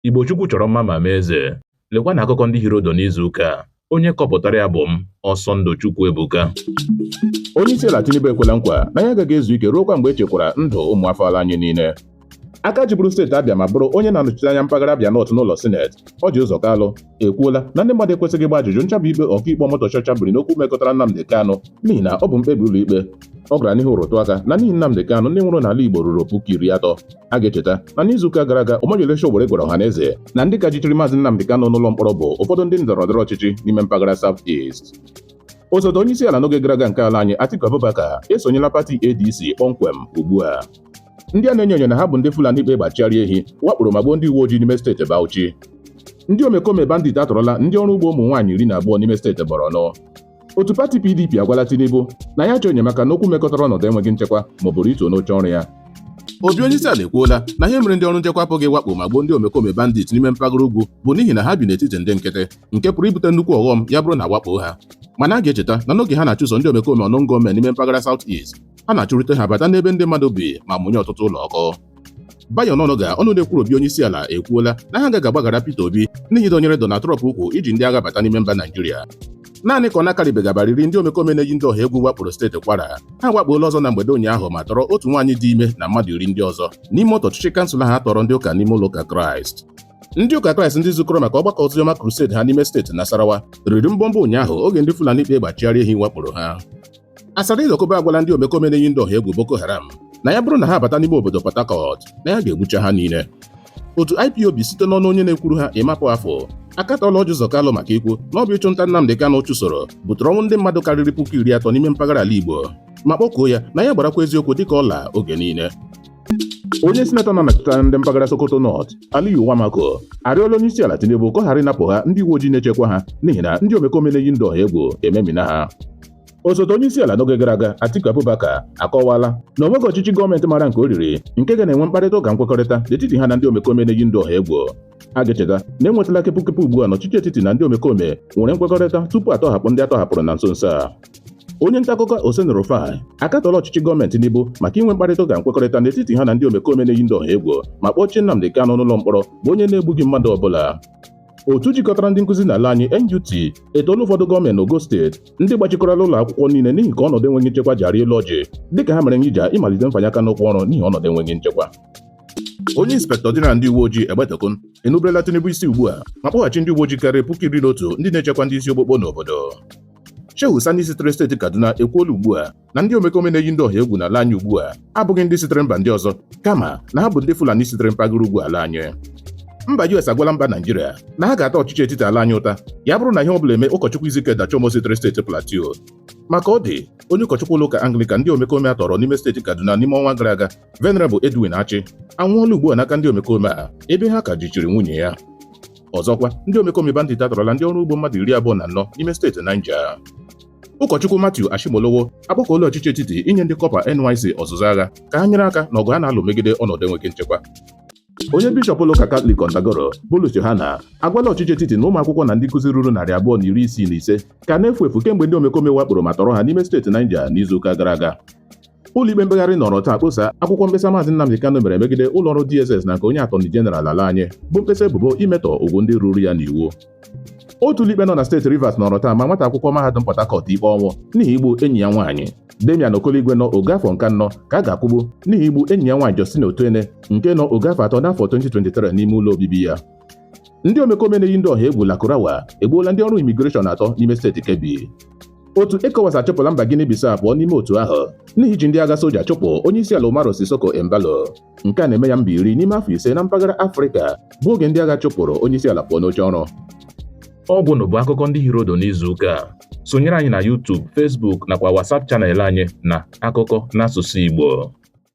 Igbo Chukwu chọrọ mma ma mee eze. Lekwanụ akụkọ ndị hiri ụdụ n'izu ụka a. Onye kọpụtara ya bụ m, Ọsọndụ Chukwuebuka. Onye isi ala Tinubu ekwela nkwa na ya agaghị ezu ike ruokwa mgbe echekwara ndụ ụmụ afọ ala anyị niile. Aka jiburu steeti Abịa ma bụrụ onye na-anọchite anya mpaghara Abịa Nọt n'ụlọ sineti, Ọji Ụzọ Kalụ ekwuola na ndị mmadụ ekwesịghị ịgba ajụjụ nchabi ikpe ọkaikpe Omotosho chabiri n'okwu mekọtara Nnamdi Kanu n'ihi na ọ bụ mkpebi ụlọikpe ọ gara n'ihu rụtụ aka na n'ihi Nnamdi Kanu ndị nwụrụ n'ala Igbo ruru puku iri atọ a ga-echeta na n'izuụka gara aga Omoyele Sowore gwara ọha na eze na ndị ka jichiri maazị Nnamdi Kanu n'ụlọ mkpọrọ bụ ụfọdụ ndị ndọrọ ndọrọ ọchịchị n'ime mpaghara South East osote onye isi ala n'oge gara aga nke ala anyị Atiku Abubakar esonyela pati ADC kpọmkwem ugbu a ndị a na-enyo enyo na ha bụ ndị Fulani kpa egbe achịgharị ehi wakporo ma gbuo ndị uwe ojii n'ime steeti Bauchi ndị omekome bandit atọrọla ndị ọrụ ugbo ụmụ nwaanyị iri na abụọ n'ime steeti Borno otu pati PDP agwala Tinubu na ya chọọ enyemaka n'okwu mekọtara ọnọdụ enweghị nchekwa ma ọ bụ rituo n'oche ọrụ ya obi onye isi ala ekwuola na ihe mere ndị ọrụ nchekwa apụghị wakpo ma gbuo ndị omekome bandit n'ime mpaghara ugwu bụ n'ihi na ha bi n'etiti ndị nkịtị nke pụrụ ibute nnukwu ọghọm ya bụrụ na a wakpo ha mana a ga-echeta na n'oge ha na-achụso ndị omekome unknown gunmen n'ime mpaghara South East ha na-achụrịta ha bata n'ebe ndị mmadụ bi ma mụnye ọtụtụ ụlọ ọkụ Bayo Onanuga ọnụ na-ekwuru obi onye isi ala ekwuola na ha agaghị agbaghara Peter Obi n'ihi ịdọnyere Donald Trump ukwu iji ndị agha bata n'ime mba Naijiria naanị ka ọ na-akarịbeghị abalị iri ndị omekome na-eyi ndụ ọha egwu wakporo steeti kwara ha wakpoola ọzọ na mgbede ụnyaahụ ma tọrọ otu nwaanyị dị ime na mmadụ iri ndị ọzọ n'ime otu ọchịchị kansụl ha tọrọ ndị ụka n'ime ụlọ ụka kraịst ndị ụka kraịst ndị zukọrọ maka ọgbakọ oziọma crusade ha n'ime steeti nasarawa riri mbọmbọ ụnyaahụ oge ndị fulani kpa egbe achịgharị ehi wakporo ha Asari Dokubo agwala ndị omekome na-eyi ndụ ọha egwu Boko Haram na ya bụrụ na ha abata n'ime obodo Port Harcourt na ya ga-egbucha ha niile otu IPOB site n'ọnụ onye na-ekwuru ha Emma Powerful akatọla Ọji Ụzọ Kalụ maka ikwu na ọ bụ ịchụnta Nnamdị Kanụ chụsoro butere ọnwụ ndị mmadụ karịrị puku iri atọ n'ime mpaghara ala Igbo ma kpọkuo ya na ya gbarakwa eziokwu dịka ọla oge niile onye sinetọ na-anọchite ndị mpaghara Sokoto North Aliyu Wamakko arịọla onye isi ala Tinubu ka ọ ghara ịnapụ ha ndị uwe ojii na-echekwa ha n'ihi na ndị omekome na-eyi ndụ ọha egwu ememina ha osote onye isi ala n'oge gara aga Atiku Abubakar akọwala na o nweghị ọchịchị gọọmenti mara nke o riri nke ga na-enwe mkparịta ụka nkwekọrịta n'etiti ha na ndị omekome na-eyi ndụ ọha egwu a ga-echeta na enwetala kepụkepụ ugbu a na ọchịchị etiti na ndị omekome nwere nkwekọrịta tupu atọhapụ ndị atọhapụrụ na nso nso a onye ntaakụkọ Oseni Rufai akatọla ọchịchị gọọmenti Tinubu maka inwe mkparịta ụka nkwekọrịta n'etiti ha na ndị omekome na-eyi ndụ ọha egwu ma kpọchie Nnamdi Kanu n'ụlọ mkpọrọ bụ onye na-egbughị mmadụ ọbụla otu jikọtara ndị nkụzi n'ala anyị NUT etoola ụfọdụ gọọmenti n'ogo steeti ndị gbachikọrọla ụlọ akwụkwọ niile n'ihi ka ọnọdụ enweghị nchekwa ji arị elu ọjị dịka ha mere ngija ịmalite mfanye aka n'ụkwụ ọrụ n'ihi ọnọdụ enweghị nchekwa onye inspektọ jeneral ndị uwe ojii Egbetokun enuberela Tinubu isi ugbu a ma kpọghachi ndị uwe ojii karịrị puku iri na otu ndị na-echekwa ndị isi okpokpo n'obodo Shehu Sani sitere steeti Kaduna ekwuola ugbu a na ndị omekome na-eyi ndị ọha egwu n'ala anyị ugbu a abụghị ndị sitere mba ndị ọzọ kama na ha bụ ndị Fulani sitere mpaghara ugwu ala anyị mba US agwala mba Naijiria na ha ga-ata ọchịchị etiti ala anyị ụta ya bụrụ na ihe ọ bụla eme ụkọchukwu Ezekiel Dachomo sitere steeti Plateau ma ka ọ dị onye ụkọchukwu ụlọ ụka Anglican ndị omekome a tọrọ n'ime steeti Kaduna n'ime ọnwa gara aga Venerable Edwin Achi anwụọla ugbu a n'aka ndị omekome a ebe ha ka jichiri nwunye ya ọzọkwa ndị omekome bandit atọrọla ndị ọrụ ugbo mmadụ iri abụọ na anọ n'ime steeti Niger Ụkọchukwu Matthew Ashimolowo akpọkuola ọchịchị etiti inye ndị kọpa NYC ọzụzụ agha ka ha nyere aka n'ọgụ a na-alụ megide ọnọdụ enweghị nchekwa onye bishọp ụlọụka katọlik Kontagora Bulus Yohanna agwala ọchịchị etiti na ụmụ akwụkwọ na ndị nkụzi ruru narị abụọ na iri isii na ise ka na-efu efu kemgbe ndị omekome wakporo ma tọrọ ha n'ime steeti Niger n'izuụka gara aga ụlọikpe mkpegharị nọrọ taa kposa akwụkwọ mkpesa maazị Nnamdi Kanu mere megide ụlọọrụ DSS na nke onye atọni jeneral ala anyị bụ mkpesa ebubo imetọ ugwu ndị ruuru ya n'iwu otu ụlọikpe nọ na steeti Rivers nọrọ taa maa nwata akwụkwọ mahadum Port Harcourt ikpe ọnwụ n'ihi igbu enyi ya nwaanyị Damian Okoligwe nọ ogo afọ nke anọ ka a ga-akwụgbu n'ihi igbu enyi ya nwaanyị Justina Otuene nke nọ ogo afọ atọ n'afọ 2023 n'ime ụlọ obibi ya ndị omekome na-eyi ndị ọha egwu Lakurawa egbuola ndị ọrụ imigreshọn atọ n'ime steeti Kebbi otu ECOWAS achụpụla mba Guinea Bissau pụọ n'ime otu ahụ n'ihi iji ndị agha soja chụpụ onye isi ala Umaro Sissoco Embalo nke a na-eme ya mba iri n'ime afọ ise na mpaghara Afrịka bụ oge ndị agha chụpụrụ onye isi ala pụọ n'oche ọrụ ọgwụnụ bụ akụkọ ndị hiri ụdụ n'izu ụka a sonyere anyị na YouTube Facebook nakwa WhatsApp channel anyị na akụkọ n'asụsụ Igbo